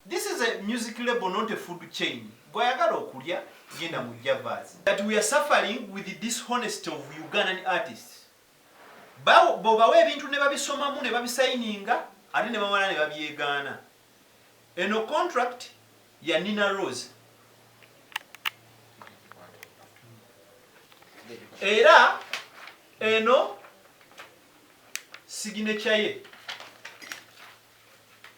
This is a music label not a food chain gwayagala okulya genda mu javas that we are suffering with the dishonesty of Ugandan artists bobawa ebintu ne babisomamu ne babisayininga ate ne bamala ne babyegaana eno contract ya Nina Rose era eno signature ye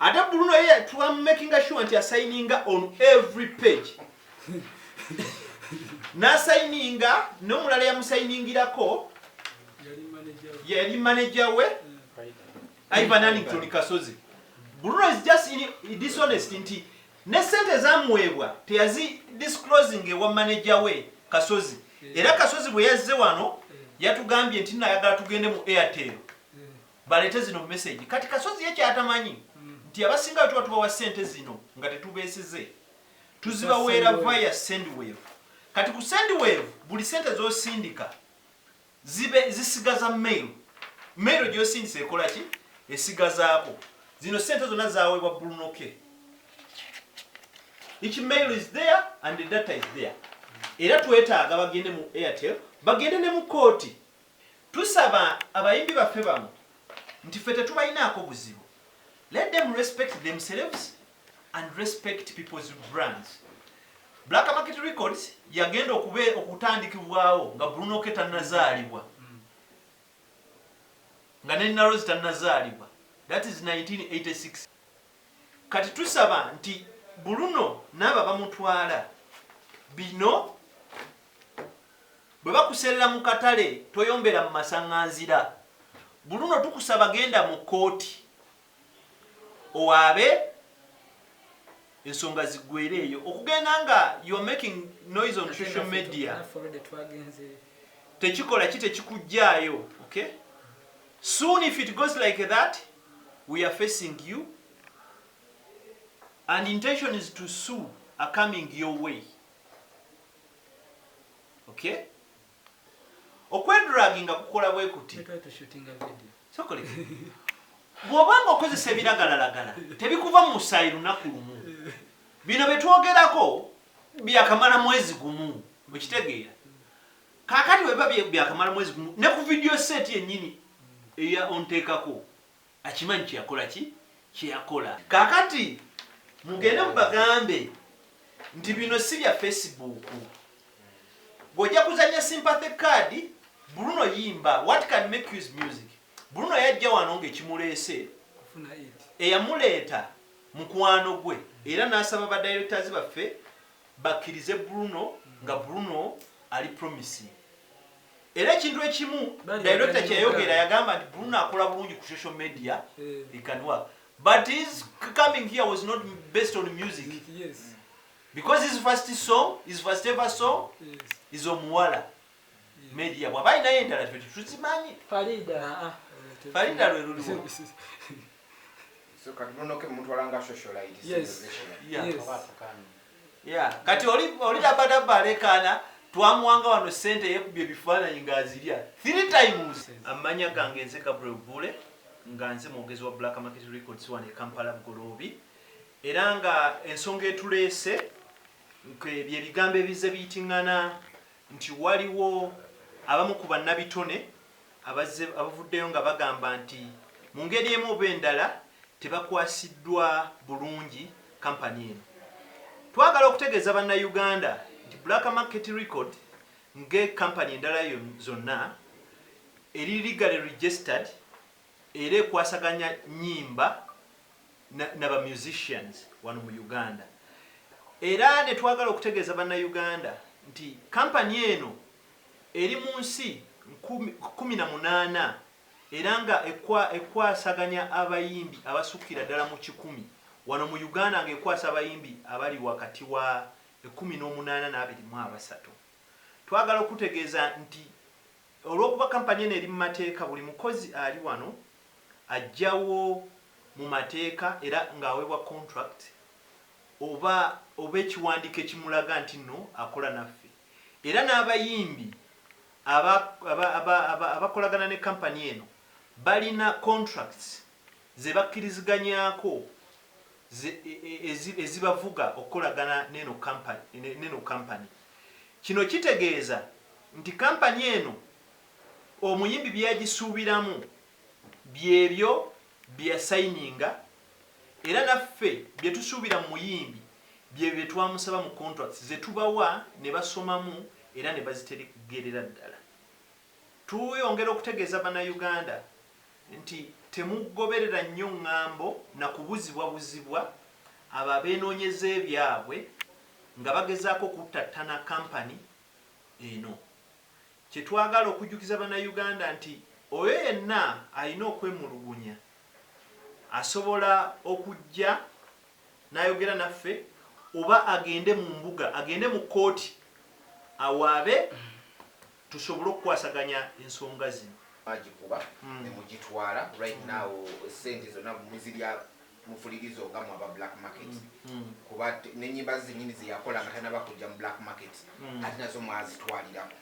Ate Bruno ye twa makinga sure nti asayininga on every page nasayininga nomulala yamusayiningirako yali manager we Ivan Annington Kasozi Bruno is just in dishonest nti ne sente zamuweebwa teyazi disclosing ewa manager we Kasozi era Kasozi bwe yazze wano yatugambye nti nayagala tugende mu Airtel balete zino message kati kasozi ye kyatamanyi nti abasinga wetuba tubawa sente zino nga tetubesize tuzibaweera via sendwave kati ku sendwave buli sente zosindika zibe zisigaza mail mail gyosindisa ekola ki esigazaako zino sente zona zawebwa bulunoke each mail is there and the data is there era twetaaga bagende mu airtel bagende ne mu kooti Tusaba abayimbi baffe bano nti ffe tetubalinaako buzibu let them respect themselves and respect people's brands. Black Market Records yagenda okube okutandikibwawo nga Bruno K tannazaalibwa nga ne Narozi tannazaalibwa that is 1986. Kati tusaba nti Bruno n'abo abamutwala bino bwe bakuserera mu katale toyombera mu masaŋŋanzira. Bruno tukusaba genda mu kkooti owaabe ensonga ziggweere eyo. Okugenda nga you are making noise on social media tekikola ki tekikuggyaayo. Okay? Soon if it goes like that, we are facing you and intention is to sue are coming your way okay okwedragi nga kukola bwe kuti bwoba nga okozesa ebiragalalagala tebikuva mu musaayi lunaku lumu bino byetwogerako byakamala mwezi gumu mukitegeera Kakati bwebiba byakamala mwezi gumu ne ku video set yenyini eya ontekako akimanyi kyeyakola ki kyeyakola. Kakati mugende mubagambe nti bino si bya Facebook. Gwe ojja kuzanya sympathy card Bruno yimba what can make use music. Bruno yajja wano nga ekimuleese eyamuleeta mukwano gwe era nasaba ba directors baffe bakirize Bruno nga Bruno ali promising era ekintu ekimu director kyeyayogera yagamba nti Bruno akola bulungi ku social media he can work but his coming here was not based on music because his first song his first ever song is omuwala media bwaba alinayo endala ffe tetuzimanyi farida ah, ah, farida lwe luliwo kati oli dabadabba alekaana twamuwanga wano sente yekubya ebifaananyi ngaazirya three times amanya gange nze gabriel bule nga nze mwogezi wa black market records wano ekampala bugoloobi era nga ensonga etuleese byebigambo ebize biyitingana nti waliwo abamu ku bannabitone abazze abavuddeyo nga bagamba nti mu ngeri emu oba endala tebakwasiddwa bulungi Company eno. Twagala okutegeeza bannayuganda nti Black Market Record nge Company endala zonna eri legally registered era ekwasaganya nnyimba, na, na ba musicians wano mu Uganda era netwagala okutegeeza banna Uganda nti company eno eri mu nsi kkumi na munaana era nga ekwa, ekwasaganya abayimbi abasukira ddala mu kikumi wano mu Uganda nga ekwasa abayimbi abali wakati wa ekkumi n'omunaana n'abiri mu abasatu twagala okutegeeza nti Olw'okuba kampani eno eri mu mateeka, buli mukozi ali wano ajjawo mu mateeka era ng'aweebwa contract oba oba ekiwandiiko ekimulaga nti nno akola naffe era n'abayimbi aba aba aba aba abakolagana ne kampani eno balina contracts ze bakkiriziganyaako. ezibavuga okukolagana neno kampani. Kino kitegeeza nti kampani eno omuyimbi byeyagisuubiramu byebyo byeyasayininga era naffe byetusuubira mu muyimbi byebyo byetwamusaba mu contracts zetubawa nebasomamu era nebazitegerera ddala. Tuyongera okutegeeza Bannayuganda nti temugoberera nnyo ŋŋambo na kubuzibwabuzibwa abo abeenoonyeza ebyabwe nga bagezaako okuttattana kkampani eno. Kye twagala okujjukiza Bannayuganda nti oyo yenna alina okwemulugunya asobola okujja n'ayogera naffe oba agende mu mbuga, agende mu kkooti awaabe tusobole okukwasaganya ensonga zino. mwagikuba ne mugitwala right now sente zona muzirya mufulirizo nga mwe aba black market kuba nenyimba ze zenyini zeyakola nga tanaba kujja mu black market ate nazo mwazitwalirako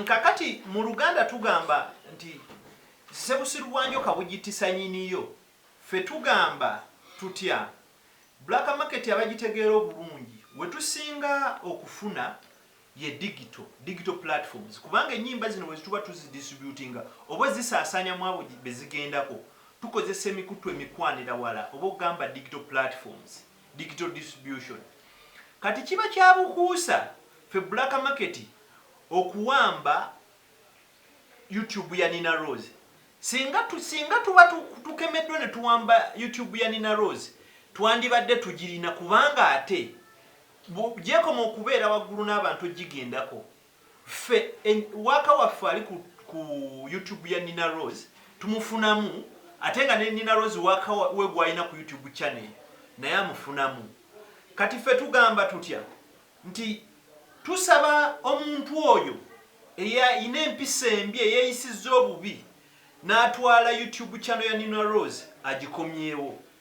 Kakati mu luganda tugamba nti sebusiru bwa njoka bujitisa nyiniyo ffe tugamba tutya black market abagitegeera obulungi wetusinga okufuna ye digital, digital platforms, kubanga ennyimba zino bwe zituba tuzidistributinga oba ozisaasaanya mu abo be zigendako, tukozesa emikuttu emikwanira wala oba ogamba digital platforms, digital distribution. Kati kiba kya bukuusa ffe Black Market okuwamba YouTube ya Nina Roz. Singa, singa tuba tukemeddwa ne tuwamba YouTube ya Nina Roz, twandibadde tugirina kubanga ate Mbu gyekoma okubeera waggulu n'abantu ogigendako. Ffe waaka waffe ali ku ku YouTube ya Nina Roz tumufunamu ate nga ne Nina Roz waaka we gwalina ku YouTube channel naye amufunamu. Kati ffe tugamba tutya nti tusaba omuntu oyo eyalina empisa embi eyeyisizza obubi n'atwala YouTube channel ya Nina Roz agikomyewo.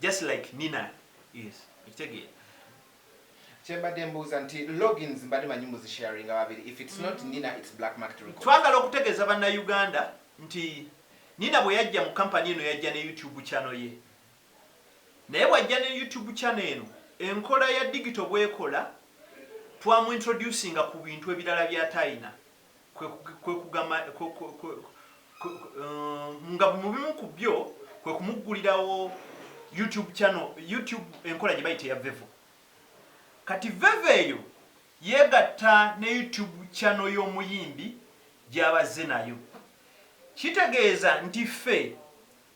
just like Nina is okitegeera. Kyembadde mbuuza nti logins mbadde manyi muzi sharinga babiri if it's not Nina it's black market records. Twagala okutegeeza banna Uganda nti Nina bweyajja mu company eno yajja ne YouTube channel ye naye bwajja ne YouTube channel eno enkola ya digital bwekola twamu introducinga ku bintu ebirala byatayina. nga mu bimu ku byo kwe kumuggulirawo YouTube channel, YouTube enkola gye bayita eya Vevo. Kati Vevo eyo yeegatta ne YouTube channel y'omuyimbi gy'abazze nayo. Kitegeeza nti ffe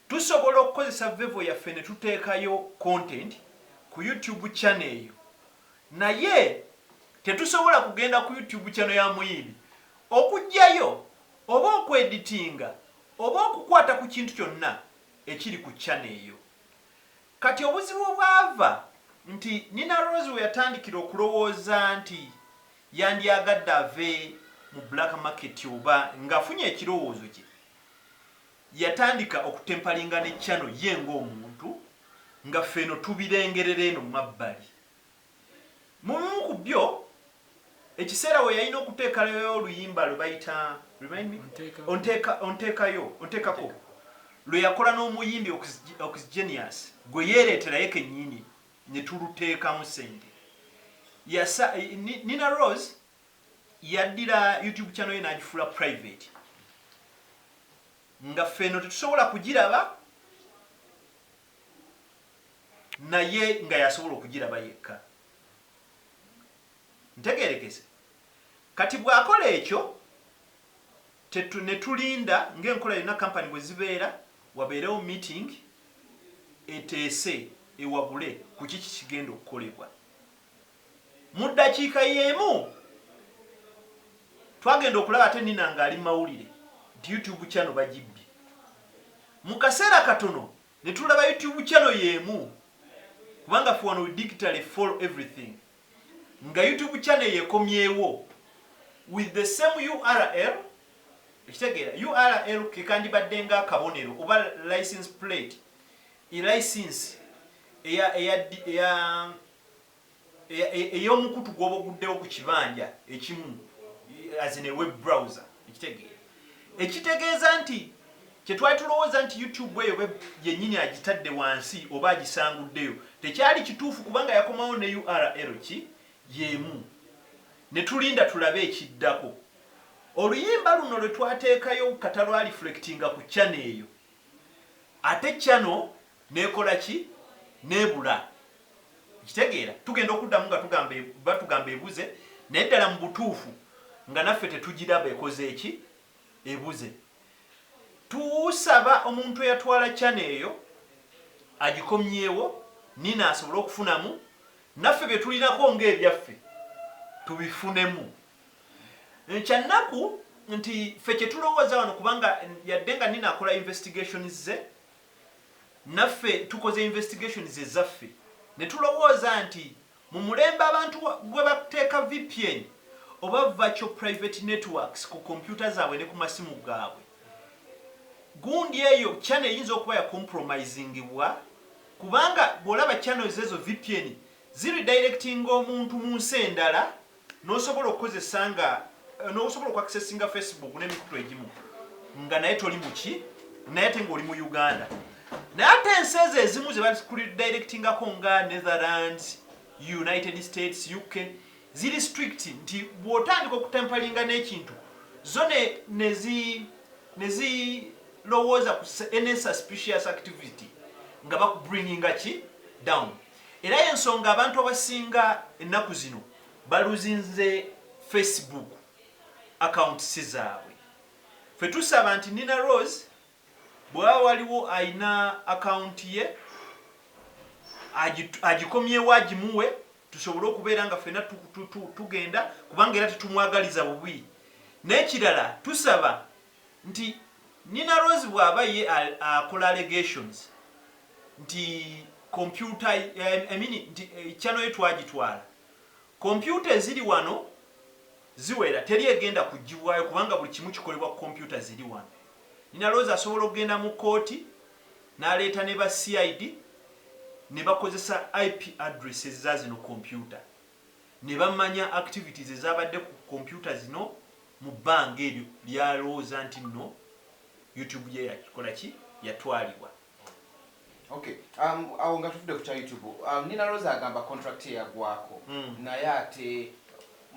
tusobola okukozesa Vevo yaffe ne tuteekayo content ku YouTube channel eyo Naye tetusobola kugenda ku YouTube channel ya muyimbi okujjayo oba oku editinga oba okukwata ku kintu kyonna ekiri ku channel eyo. Kati obuzibu obwava nti Nina Roz weyatandikira okulowooza nti yandyagadde ave mu black market oba ngafunye ekirowoozo kye Yatandika okutempalinga ne channel ye ng'omuntu nga ffe eno tubirengerera eno mu mabbali. Mu bimu ku byo, ekiseera we yalina okuteekalayo oluyimba lwe bayita Remind me? Onteeka, Onteekayo, Onteekako, lwe yakola n'omuyimbi Oxgenius gwe yeereetera ye kennyini ne tuluteekamu ssente. Yasa, Ni, Nina Roz yaddira YouTube channel ye n'agifuula private nga ffe eno tetusobola kugiraba naye nga yasobola okugiraba yekka ntegerekese kati bw'akola ekyo ne tulinda ng'enkola yonna kampani bwe zibeera wabeerewo meeting eteese ewabule ku kiki kigenda okukolebwa Mu ddakiika y'emu twagenda okulaba ate Nina ng'ali mu mawulire nti YouTube channel bagibbye. Mu kaseera katono ne tulaba YouTube channel y'emu kubanga ffe wano we digitally follow everything nga YouTube channel eyo ekomyewo with the same URL ekitegeera URL ke kandibadde nga akabonero oba license plate e license eya eya eya eyomukutu gwoba oguddewo ku kibanja ekimu azine web browser ekitegeera ekitegeeza nti kyetwali tulowooza nti youtube eyo yenyini agitadde wansi oba agisanguddeyo tekyali kituufu kubanga yakomawo ne url ki yemu netulinda tulabe ekiddako oluyimba luno lwetwateekayo kata lwaliflectinga ku chana eyo ate channel nekola ki nebula okitegeera tugenda okuddamu nga tugamba batugamba ebuze naye ddala mubutuufu nga naffe tetugiraba ekoze eki ebuze tusaba omuntu eyatwala channel eyo agikomyewo nina asobole okufunamu naffe byetulinako nga ebyaffe tubifunemu Kya naku nti ffe kye tulowooza wano kubanga yadde nga Nina akola investigations ze naffe tukoze investigations ezaffe ne tulowooza nti mu mulembe abantu gwe bateeka vpn oba virtual private networks ku computer zaabwe ne ku masimu gaabwe gundi eyo channel eyinza okuba ya compromisingibwa kubanga bw'olaba channels ezo vpn zi redirectinga omuntu mu nsi endala Nosobola okukozesa nga nosobola oku accessinga Facebook nemikutu egimu nga naye toli muki naye ate nga oli mu Uganda naye ate ensi ezo ezimu zebazikudirectingako nga Netherlands, United States, UK ziri strict nti bwotandika okutempalinga nekintu zo nezilowooza ku any suspicious activity nga bakubringinga ki down. Era y'ensonga abantu abasinga ennaku zino baluzinze Facebook accounts zaabwe. Ffe tusaba nti Nina Roz bwewaba waliwo alina account ye agikomyewo agimuwe tusobole okubeera nga ffena tugenda kubanga era tetumwagaliza bubi. N'ekirala tusaba nti Nina Roz bwaba ye akola allegations nti computer I mean nti channel ye twagitwala computer eziri wano ziwera teri egenda kujibwayo kubanga buli kimu kikolebwa ku computer ziri wano Nina Roz asobola okugenda mu kooti naleeta ne ba CID nebakozesa IP address eza zino computer. ne bamanya activities ezabadde ku computer zino mu bbanga eryo lyalowooza nti nno YouTube ye yakola ki? Yatwalibwa. Ok, um, awo nga tuvude ku kya YouTube, um, Nina Rosa agamba contract ye yagwako mm. naye ate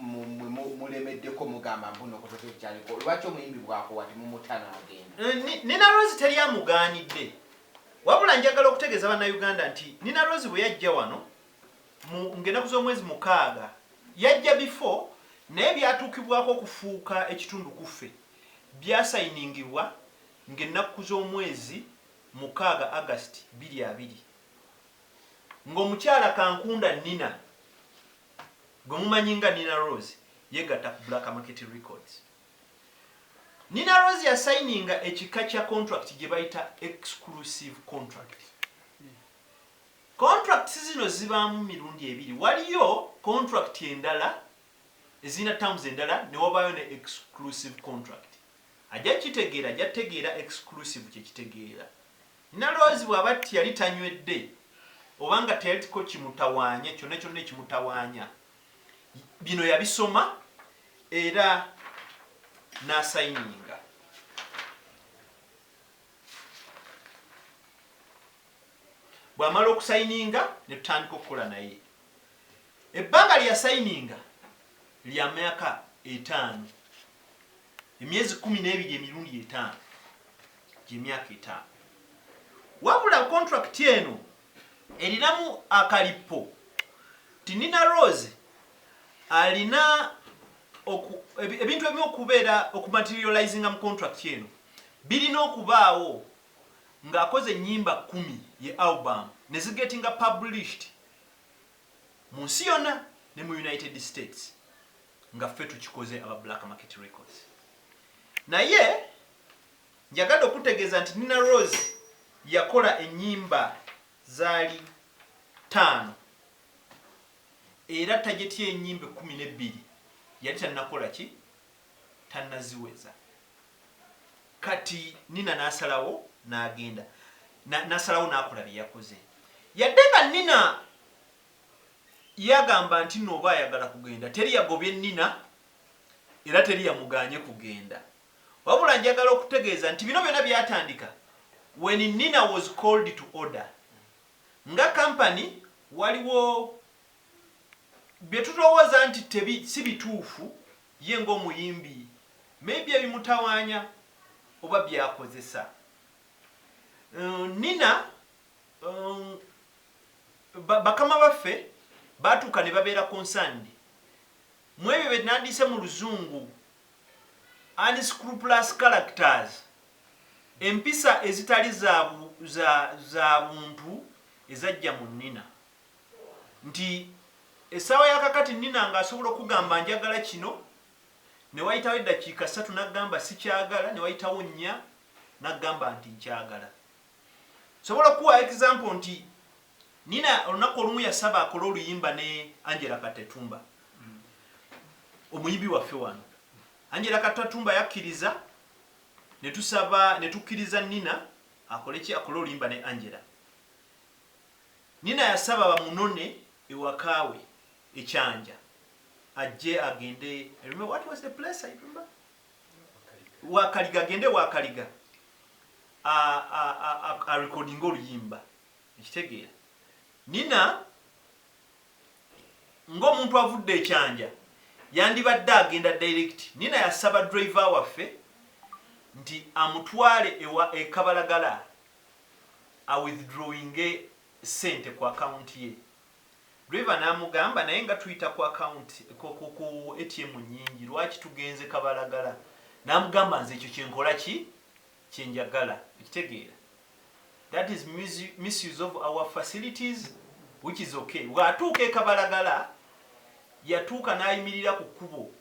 mulemeddeko mugamba mbuno kutoka ekyaliko lwaki omuyimbi bwakowa temumuta nagenda eh, nina rose teri amugaanidde wabula njagala okutegeeza bannayuganda nti nina rose bwe yajja wano mu ng'enaku z'omwezi mukaaga, yajja before, naye byatuukibwako okufuuka ekitundu kuffe, byasayiningibwa ng'enakku z'omwezi mukaaga, August, biri abiri, ng'omukyala Kankunda Nina, gwe mumanyi nga Nina Roz, yegatta ku Black Market Records. Nina Roz yasayininga ekika kya contract gyebayita exclusive contract. Contracts zino zibaamu mirundi ebiri, waliyo contract endala ezirina terms endala ne wabaayo ne exclusive contract. Ajja kukitegeera ajja kutegeera exclusive kye kitegeera. Naloozi bw'aba tti yali tanywedde oba nga teyalitko kimutawaanya kyonna kyonna ekimutawaanya, bino yabisoma era n'asayininga. Bw'amala okusayininga ne tutandika okukola naye. Ebbanga lye yasayininga lya myaka etaano, emyezi kkumi n'ebiri emirundi etaano, gy'emyaka etaano. Wabula kontulakiti eno erinamu akalippo nti Nina Rose alina ebintu ebimu okubeera okumaterializinga mu kontulakiti eno birina okubaawo. nga akoze enyimba kumi ye album ne zigetinga published munsi yona ne mu United States nga ffe tukikoze aba Black Market Records naye njagade okutegeza nti Nina Roz yakola enyimba zali tano era target ye enyimba ekumi ne biri yali tanakola ki tannaziweza. Kati Nina n'asalawo n'agenda, n'asalawo n'akola bye yakoze. Yadde nga Nina yagamba nti nno oba ayagala kugenda, teri yagobye Nina era teri yamugaanye kugenda. Wabula njagala okutegeeza nti bino byonna byatandika when Nina was called to order. Nga company waliwo bye tulowooza nti tebi si bituufu ye ng'omuyimbi maybe ebimutawaanya oba by'akozesa. Nina bakama baffe baatuuka ne babeera concerned mu ebyo bye nandiyise mu luzungu unscrupulous characters, empisa ezitali za buntu ezajja mu Nina. nti essaawa ya kakati Nina nga asobola okugamba njagala kino ne wayitawo eddakiika ssatu n'agamba sikyagala ne wayitawo nnya n'agamba nti nkyagala. Nsobola okukuwa example nti Nina olunaku olumu yasaba akole oluyimba ne Angela Katetumba omuyimbi waffe wano. Angela Katetumba yakkiriza ne tusaba ne tukkiriza Nina akole ki akole oluyimba ne Angela. Nina yasaba bamunone ewaka we e Kyanja ajje agende I remember what was the place I remember Wakaliga agende Wakaliga a, a, a, a, a recording oluyimba ekitegeera Nina ng'omuntu avudde ekyanja yandibadde agenda direct nina yasaba driver waffe nti amutwale ewa ekabalagala a withdrawinge sente ku account ye driver namugamba naye nga tuyita ku account ku ATM nyingi lwaki tugenze kabalagala namugamba nze ekyo kyenkola ki kyenjagala okitegeera that is misuse of our facilities which is okay bwatuuka ekabalagala yatuuka nayimirira ku kkubo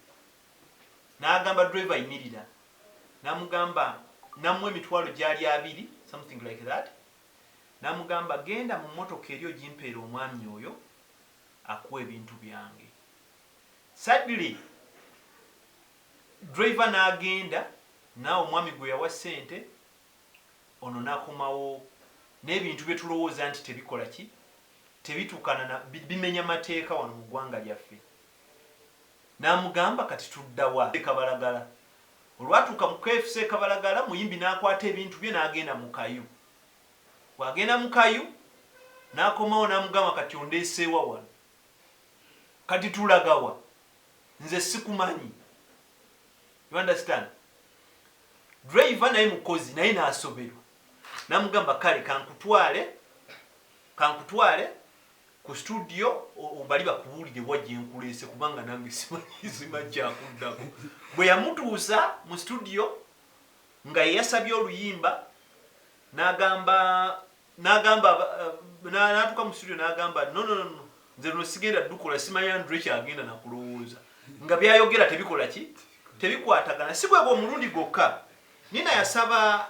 nagamba driver yimirira namugamba namuwa emitwalo gyali abiri something like that namugamba genda mu motoka eri ojimpeere omwami oyo akuwe ebintu byange sadly driver nagenda na omwami gwe yawa sente ono nakomawo nebintu byetulowooza nti tebikola ki tebitukana na bimenya mateeka wano mu gwanga lyaffe n'amugamba kati tudda wa? E Kabalagala. Olwatuuka mu kfc e Kabalagala, Muyimbi n'akwata ebintu bye n'agenda mu kayu. Bw'agenda mu kayu, n'akomawo n'amugamba kati ondeese wa wano? Kati tulaga wa? Nze sikumanyi. You understand? Driver naye mukozi naye n'asoberwa. N'amugamba kale kankutwale, kankutwale. Ku studio bali bakubuulire wa gye nkuleese kubanga nange simanyi simanyi kya kuddako. Bwe yamutuusa mu studio nga ye yasabye oluyimba n'agamba n'agamba n'atuuka mu studio n'agamba no no no no nze luno sigenda ddukola simanyi Andre kyagenda na kulowooza nga by'ayogera tebikola ki tebikwatagana. Si gwe gw'omulundi gwokka Nina yasaba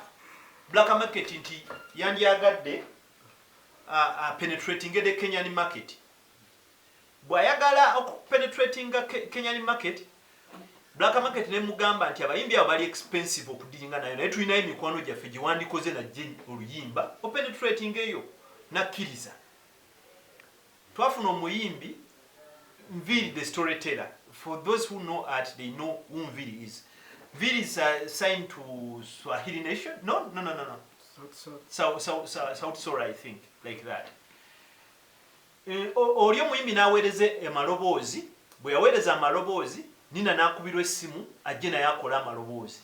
Black Market nti yandyagadde a penetratinge the Kenyan market bwayagala oku penetratinga Kenyan market Black market nemugamba nti abayimbi abo bali expensive okudiringa nayo naye tulinayo emikwano gyaffe gyewandikoze najje oluyimba openetratinga eyo nakkiriza Twafuna omuyimbi Nviiri the story teller for those who know art they know who Nviiri is. Nviiri is uh, signed to Swahili Nation. No, no, no, no, no. South, South, South, South Sora I think like that. Eh, oli omuyimbi n'aweereza amaloboozi bwe yaweereza amaloboozi nina n'akubirwa essimu ajje naye akole amaloboozi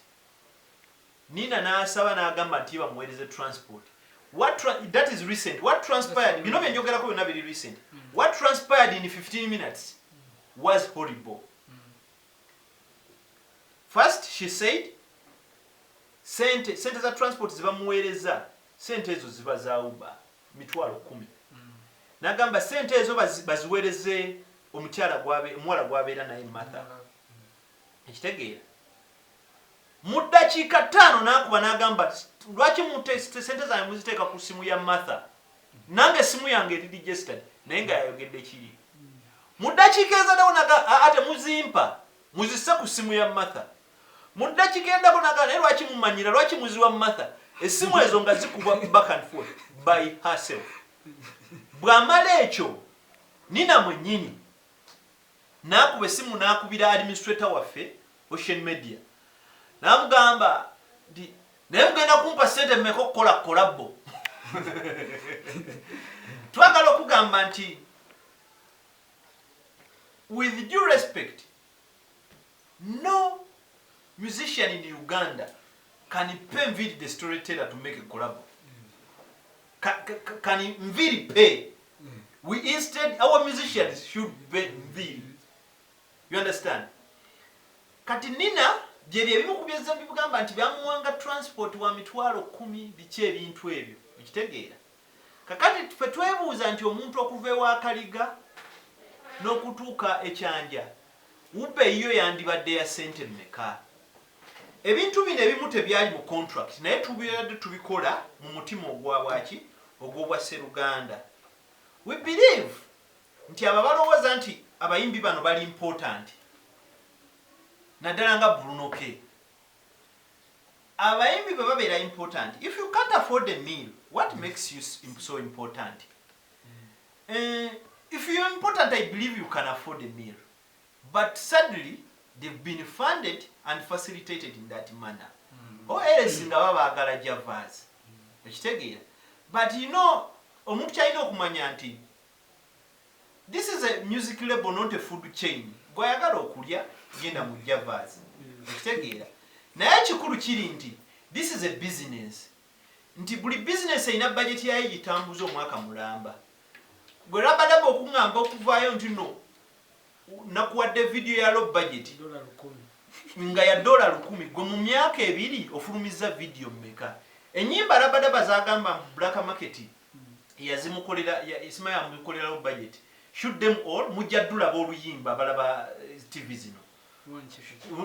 Nina nasaba nagamba nti ye bamuwereze transport what tra that is recent what transpired bino byenjogerako byona biri recent what transpired in 15 minutes was horrible first she said sente sente za transport zibamuwereza sente ezo ziba za uba mitwalo kumi nagamba sente ezo baziwereze omukyala gwabe omuwala gwabeera naye matha ekitegeera Mu ddakiika ttaano n'akuba n'agamba, Lwaki ssente zange muziteeka ku ssimu ya Martha? Nange essimu yange eri registered. Naye nga yayogedde kiri. Mu ddakiika ezaddawo n'agamba, Aa, temuzimpa. Muzisse ku ssimu ya Martha. Mu ddakiika eyaddako n'agamba, Naye lwaki mumanyira? Lwaki muziwa Martha? Essimu ezo nga zikubwa back and forth by herself. Bw'amala ekyo, Nina mwennyini Nakuba essimu nakubira administrator waffe Ocean Media namugamba nti naye mugenda kumpa ssente mmeka okukola kkolabbo. Twagala okugamba nti with due respect no musician in Uganda can pay Nviiri the storyteller to make a kkolabbo. kani nviri pay we instead our musicians should be nviri you understand kati nina byebyo ebimu kubyezza bibugamba nti byamuwanga transport wa mitwalo kumi biki ebintu ebyo okitegeera kakati fe twebuuza nti omuntu okuva ewakaliga n'okutuuka ekyanja wubbe yiyo yandibadde ya sente mmeka Ebintu bino ebimu tebyali mu kontulakiti naye tubadde tubikola mu mutima ogwa bwaki? Ogw'obwasseruganda. We believe nti abo abalowooza nti abayimbi bano bali important naddala nga Bruno K. Abayimbi bwe babeera important, if you can't afford a meal, what makes you so important? Eh, if you're important, I believe you can afford a meal. but sadly they've been funded and facilitated in that manner or else nga baba bagala javas okitegeera but you know omuntu kyalina okumanya nti this is a music label not a food chain gwayagala okulya genda mu javas okitegeera naye ekikulu kiri nti this is a business nti buli business erina bajeti yayo gitambuza omwaka mulamba gwe rabadaba okuŋamba okuvaayo nti no nakuwadde video ya low budget nga ya dola lukumi gwe mu myaka ebiri ofulumizza video mumeka enyimba rabadaba zagamba mu black market yazimukolera isima yamukolera low budget shoot them all mujja dulaba oluyimba balaba eh, tv zino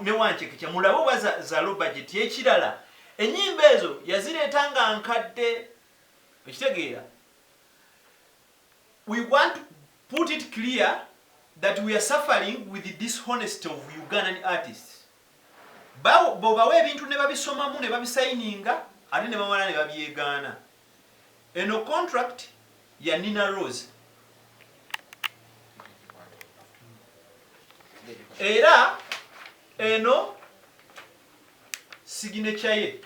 newankyekikya mulabe oba za low budget ekirala enyimba ezo yazireeta nga nkadde okitegeera We want to put it clear that we are suffering with the dishonesty of Ugandan artists. Bawo bobawa ebintu ne babisomamu ne babisayininga ate ne bamala ne babyegaana. Eno contract ya Nina Rose. Era eno signature ye.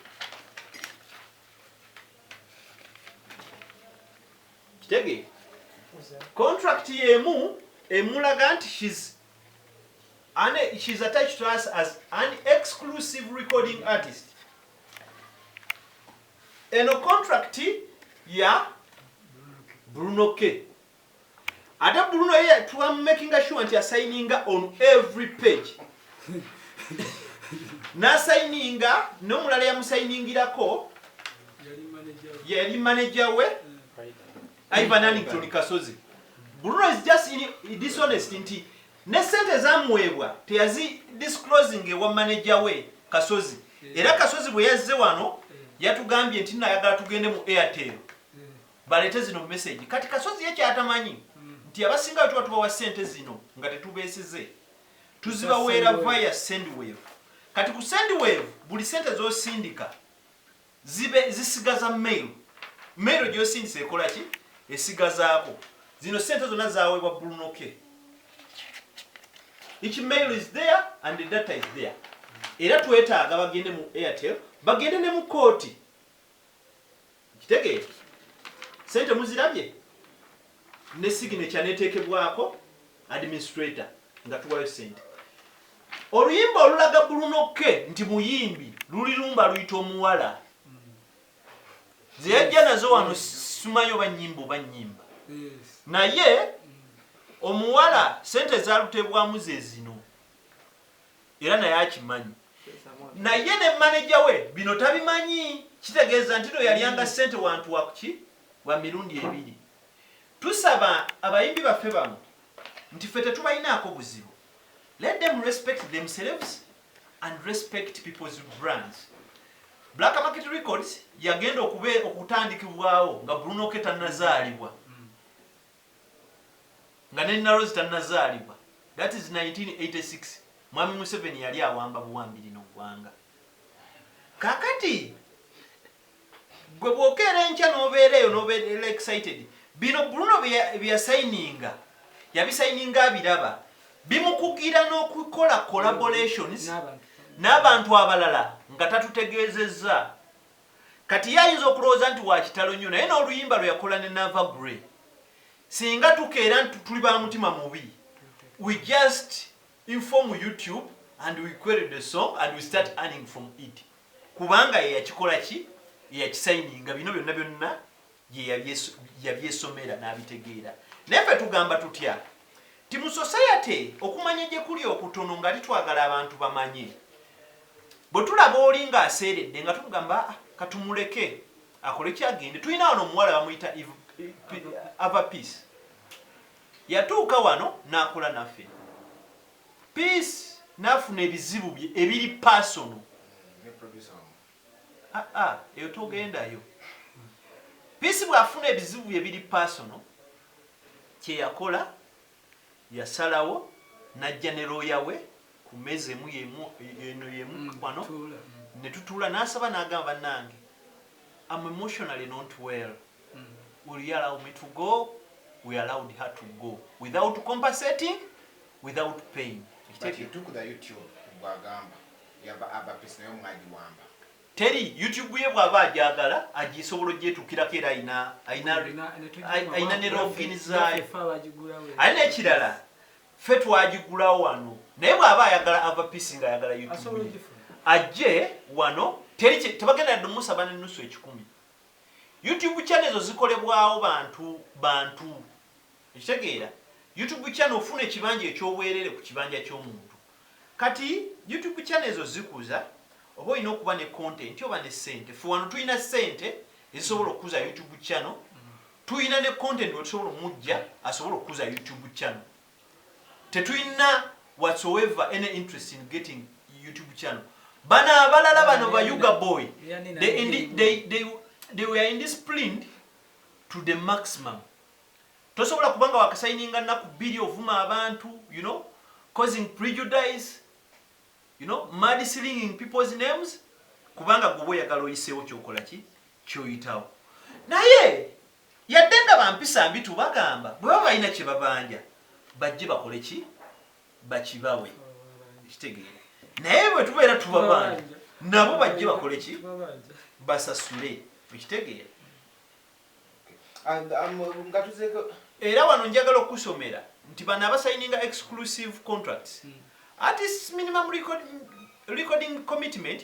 Kitege contract yemu emulaga nti she's an she's attached to us as an exclusive recording artist. Eno contract ya Bruno K. Ate Bruno ye tuwa making sure nti assigninga on every page. n'asayininga n'omulala yamusayiningirako yali maneja we ivan anington kasozi bruno is just dishonest nti ne sente zamuweebwa teyazi disclosing ewa maneja we kasozi era kasozi bwe yazze wano yatugambye nti nayagala tugende mu airtel baleete zino mumesegi kati kasozi ye kyatamanyi nti abasinga wetuba tubawa sente zino nga tetubeesize tuzibaweera via sendwave kati ku sendwave buli sente zosindika zibe zisigaza mail mail gyosindisa ekola ki esigazaako zino sente zonna zawebwa bulunoke each mail is there and the data is there era twetaaga bagende mu airtel bagende ne mu kooti Okitegeera? Ssente muzirabye? Ne signature n'eteekebwako administrator nga tuwaayo ssente. Oluyimba olulaga Brunoke nti muyimbi luli lumu baluyita Omuwala. Ze yajja nazo wano simanyi oba nnyimba oba nnyimba. Naye Omuwala ssente ezaaluteebwamu ze zino. era naye akimanyi naye ne maneja we bino tabimanyi kitegeeza ntino yalyanga ssente wantu wakuki wa mirundi ebiri tusaba abayimbi baffe bamu nti ffe tetubalinaako buzibu let them respect themselves and respect people's brands black market records yagenda okube okutandikibwawo nga bruno ketanazaalibwa nga ne Narozi tanazaalibwa that is nineteen eighty six mwami Museveni yali awamba buwambi lino ggwanga kakati gwe bwokeera enkya nobeera eyo nobeera excited bino Bruno byeyasayininga yabisayininga abiraba bimukugira n'okukola collaborations n'abantu abalala nga tatutegeezezza Kati ye ayinza okulowooza nti wa kitalo nnyo naye n'oluyimba lwe yakola ne Naava Grey, Singa tukeera nti tuli ba mutima mubi, we just inform YouTube and we query the song and we start earning from it. Kubanga ye yakikola ki? Ye yakisayininga. Bino byonna byonna yeyabyesomera nabitegeera naye fe tugamba tutya ti musosayate okumanya gyekuli okutono nga litwagala abantu bamanye bwetulaba oli nga aseeredde nga tumugamba ah, katumuleke akole kyagende tulina wano omuwala bamuyita ava peace yatuuka wano nakola naffe peace nafuna ebizibu bye ebiri pasono Aah eyo togendayo. Peace bwafuna ebizibu bye biri personal kyeyakola yasalawo najja ne lawyer we ku meza emu yemu eno yemu wano netutuula nasaba nagamba banange am emotionally not well. will you allow me to go we allowed her to go without compensating without paying teri youtube ye bwaba ajagala agisobola ogyetukirako era ayina ne login zayo aye nekirala fe twagigulawo wano naye bwaba ayagala ava pisi nga ayagala youtube ajje wano teri tebagenda yadde omusaba nenusu ekikumi YouTube channel ezo zikolebwawo bantu bantu okitegeera YouTube channel ofuna ekibanja ekyobwerere ku kibanja kyomuntu kati YouTube channel ezo zikuza oba olina okuba ne content oba ne sente fe wano tulina sente ezisobola okukuza YouTube channel tulina ne content wetusobola omujja asobola okukuza YouTube channel Tetulina whatsoever any interest in getting YouTube channel. Bano abalala bano ba Yuga boy they, they, they, they, they were indisciplined to the maximum. Tosobola kubanga wakasayininga naku bili ovuma abantu, you know, causing prejudice, you know, mad slinging people's names kubanga gwe oyagala oyiseewo kyokola ki kyoyitawo naye Yadde nga ba mpisa mbi tubagamba bwebaba balina kyebabanja bajje bakole ki? Bakibawe. Okitegeera? Naye bwetubeera tubabanja nabo bajje bakole ki? Basasule. Okitegeera? Era wano njagala okukusomera nti bano abasayininga exclusive contracts hmm. artists minimum record, recording commitment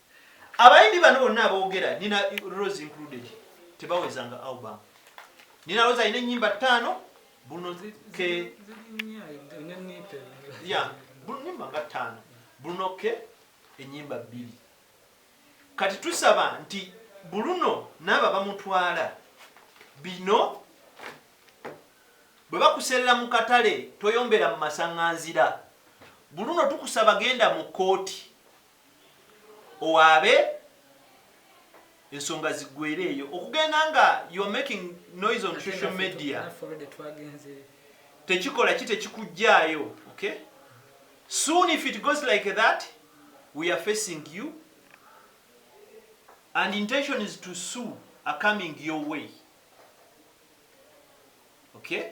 Abayimbi bano bonna abogera Nina Rose included tebaweza nga album. Nina Rose alina ennyimba ttaano Bruno ke ya nyimba nga ttaano Bruno ke ennyimba bbiri. Kati tusaba nti Bruno n'abo abamutwala bino bwe bakuserera mu katale toyombera mu masaŋŋanzira. Bruno tukusaba genda mu kkooti. owaabe ensonga ziggwere eyo okugenda nga youare making noise on social media tekikola ki tekikujjaayo okay soon if it goes like that we are facing you and intention is to sue are coming your way okay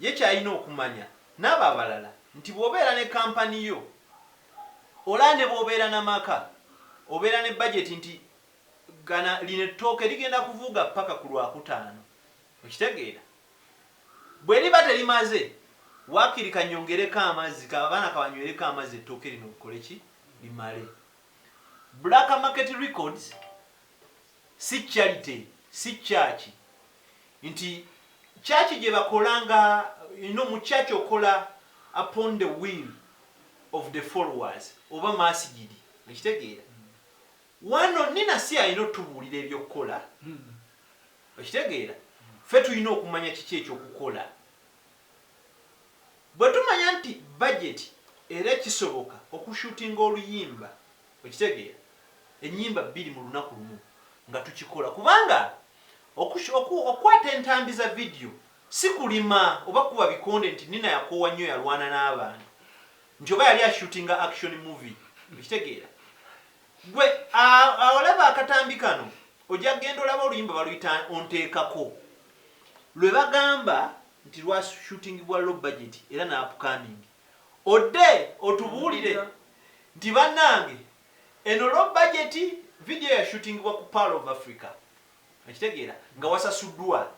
ye ky'alina okumanya n'abo abalala nti bw'obeera ne kampani yo olaa ne bw'obeera na maka obeera ne bajeti nti gana lino ettooke ligenda kuvuuga ppaka ku Lwakutaano okitegeera bwe liba terimaze waakiri kanyongereko amazzi ka abaana kabanywereko amazzi ettooke lino likole ki limale Black Market Records Si charity, si church. Nti church gyebakola nga you know mu church okola upon the will of the followers oba masigidi okitegeera. Wano Nina si alina otubuulira eby'okukola okitegeera. Ffe tulina okumanya kiki eky'okukola. Bwetumanya nti budget era kisoboka oku shootinga oluyimba. Okitegeera? Ennyimba bbiri mu lunaku lumu nga tukikola kubanga oku, oku, okukwata entambi za vidiyo si kulima oba kukuba bikonde nti Nina yakoowa nnyo yalwana n'abantu nti oba yali ashutinga action movie. Okitegeera? Gwe a, a, olaba akatambi kano ojja kugenda olaba oluyimba baluyita Onteekako lwe bagamba nti lwashutingibwa low budget era n'apcoming. Odde otubuulire nti banange eno low budget video ya shootingibwa ku pearl of Africa okitegeera nga wasasuddwa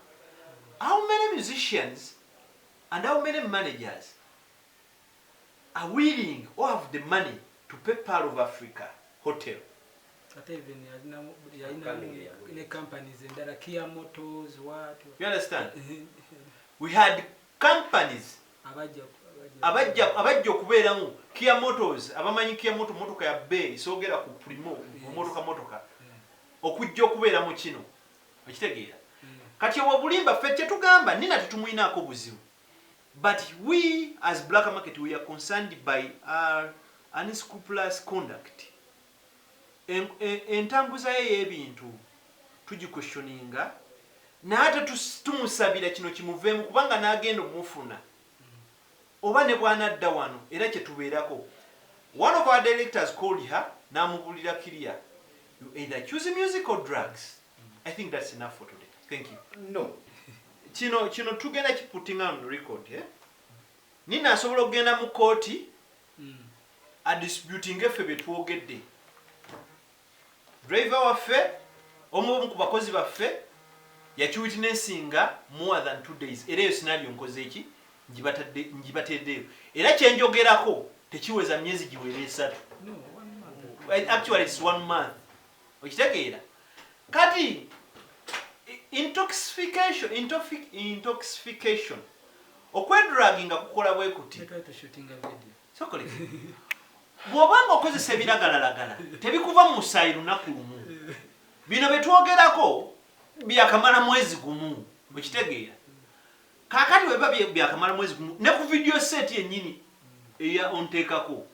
how many musicians and how many managers are willing or have the money to pay pearl of Africa hotel Ate even yalinamu yalinamu ne companies endala kia motors what you understand we had Companies abajja okubeeramu Kia Motors abamanyi Kia Motor motoka ya beeyi soogera ku Primo motoka motoka okujja okubeera mu kino okitegeera kati obwo bulimba ffe kyetugamba nina tetumuyinaako buzibu but we as black market we are concerned by our unscrupulous conduct entambuza ye eyebintu tuji questioninga naye ate tumusabira kino kimuveemu kubanga nagenda omufuna oba nebwanadda wano era kyetubeerako one of our directors called her namubulira clear you either choose music or drugs I think that's enough for today thank you no kino kino tugenda kiputinga on record eh? nina asobola okugenda mu kooti a disputinge ffe byetwogedde driver waffe omu omu ku bakozi baffe yakiwitnessinga more than two days era eyo sinario nkozeeki ngibateeddeyo era kyenjogerako tekiweza myezi giwera esatu actually it's one month okitegeera kati intoxification intoxification okwedragi nga kukola bwe kuti bwoba nga okozesa ebiragalalagala tebikuva mu musaayi lunaku lumu bino byetwogerako byakamala mwezi gumu okitegeera kakati webiba byakamala mwezi gumu ne ku vidiyo seeti yenyini eya onteekako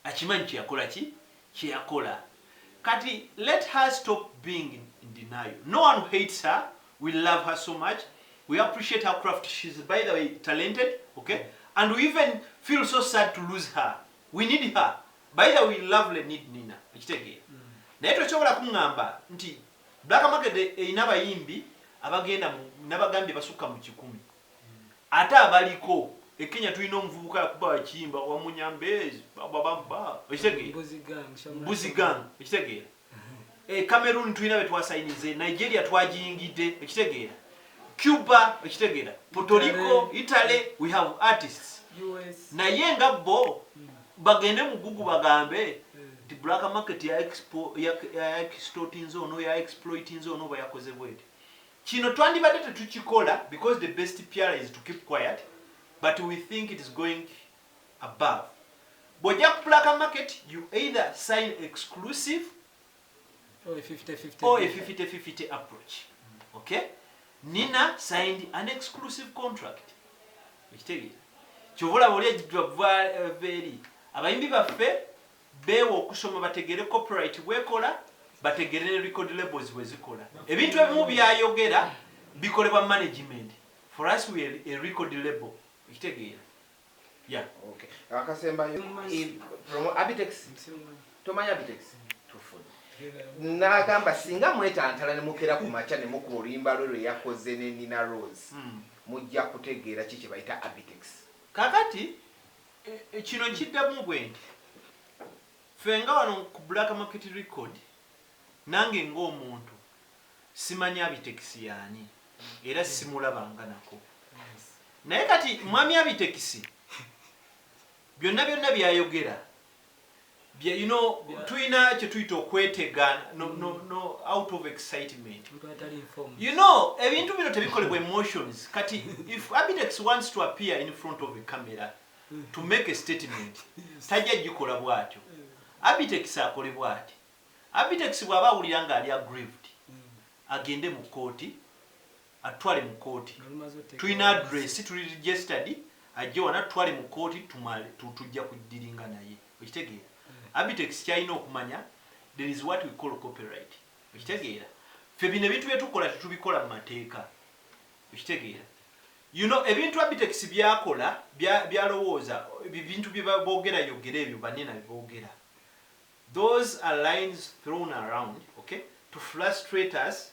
Akimanyi kyeyakola ki kyeyakola Kati let her stop being in denial no one hates her we love her so much we appreciate her craft she's by the way talented ok and we even feel so sad to lose her we need her by the way we lovely need Nina okitegeera naye tokyobola kungamba nti Black market erina abayimbi abagenda mu nabagambye basukka mu kikumi. Ate abaliko e Kenya tulina omuvubuka yakuba bakiyimba wamunyambez bababamba okitegeera mbuzi gang okitegeera e Cameroon tulina betwasayinize Nigeria twagiyingidde okitegeera Cuba okitegeera Puerto Rico Italy we have artists naye nga bo hmm. bagende mu gugu bagambe nti black market ya expo ya extortinze ono ya exploitinze ono oba yakoze bwete Kino twandibadde tetukikola because the best PR is to keep quiet but we think it is going above. Bwojja ku black market you either sign exclusive or a 50-50 approach. Okay? Nina signed an exclusive contract. Ekitegeera. Kyovola bwoli ejjidwa veri. Abayimbi baffe beewa okusoma bategeere copyright bwekola, bategeere ne record labels bwezikola. Ebintu ebimu byayogera bikolebwa management, for us we are a record label. Okitegeera? Yeah. Okay. Akasembayo, promo, Abitex, tomanya Abitex? Tufuna. Nagamba singa mwetantala ne mukera ku macha ne mukuba oluyimba lwe lwe yakoze ne Nina Rose, hmm. mujja kutegeera ki kye bayita Abitex. Kakati, E, e, kino nkiddamu bwe nti ffe nga wano ku black market record nange ng'omuntu simanyi abitekisi yaani era simulabanga nako naye kati mwami abitekisi byonna byonna byayogera bye you know yeah. tulina kyetuyita okwetega no, mm. no, no, out of excitement you know ebintu bino tebikolebwa emotions kati if abidex wants to appear in front of a camera mm. to make a statement tajja gikola bwatyo mm. abitex akole bwati abitex bwaba awulira nga ali aggrieved agende mu kooti atutwale mu kooti tulina address tuli registered ajje wano atutwale mu kooti tumale tujja kudiringa naye okitegeera hmm. abitex kyalina okumanya there is what we call copyright okitegeera fe bino ebintu byetukola tetubikola mu mateeka okitegeera you know ebintu abitex byakola byalowooza ebintu byebogera yogera ebyo banena bebogera those are lines thrown around okay to frustrate us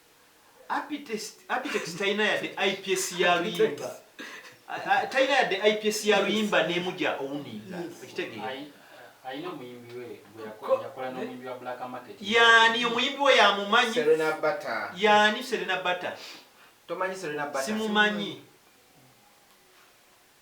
Abitex talina yadde IPS ya luyimba talina yadde IPS ya luyimba nemuja owuninga okitegeera yani omuyimbi we yamumanyi yani serena bata simumanyi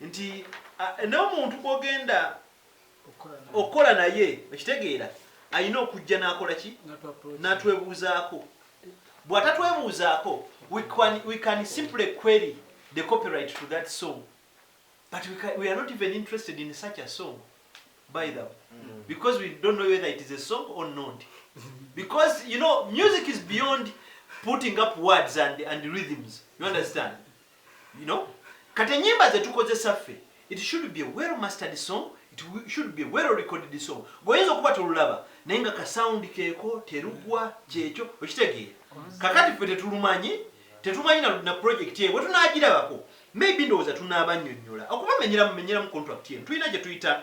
nti n'omuntu gwogenda okukola naye okitegeera alina okujja n'akola ki n'atwebuuzaako bw'atatwebuuzaako we can simply query the copyright to that song but we, can, we are not even interested in such a song by them mm. because we don't know whether it is a song or not because you know music is beyond putting up words and, and rhythms you understand You know? Kati enyimba zetukozesa ffe it should be a well mastered song it should be a well recorded song goyinza okuba tolulaba naye nga ka sound keko terugwa kyekyo okitegeera kakati ffe tetulumanyi tetumanyi na, na project eyo bwetunagirabako maybe ndowooza tunabanyonyola okubamenyeramu menyeramu contract eno tulina gyetuyita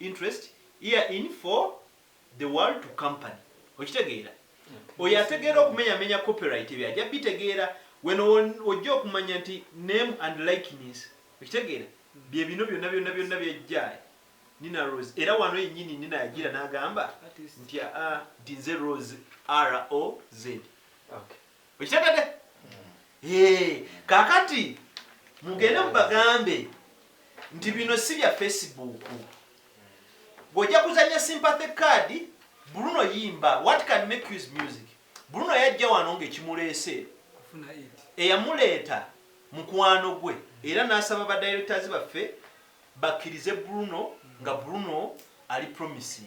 interest here in for the world to company okitegeera oyo ategeera okumenyamenya copyright ebyo ajja bitegeera weno wojja okumanya nti name and likeness okitegeera bye bino byonna byonna byonna byajja nina rose era wano yennyini nina yajira n'agamba nti a ah, nti nze rose roz okay. okitegede eh, kakati mugende mubagambe nti bino si bya facebook gweojja kuzanya sympathy card bruno yimba what can make use music bruno yajja wano ngaekimuleese eyamuleeta mukwano gwe era nasaba ba directors baffe bakkirize bruno nga bruno ali promising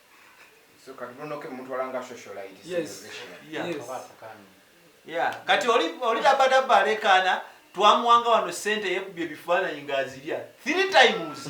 kati oli dabadaba alekaana twamuwanga wano sente yekubye ebifaananyi ngaazirya three times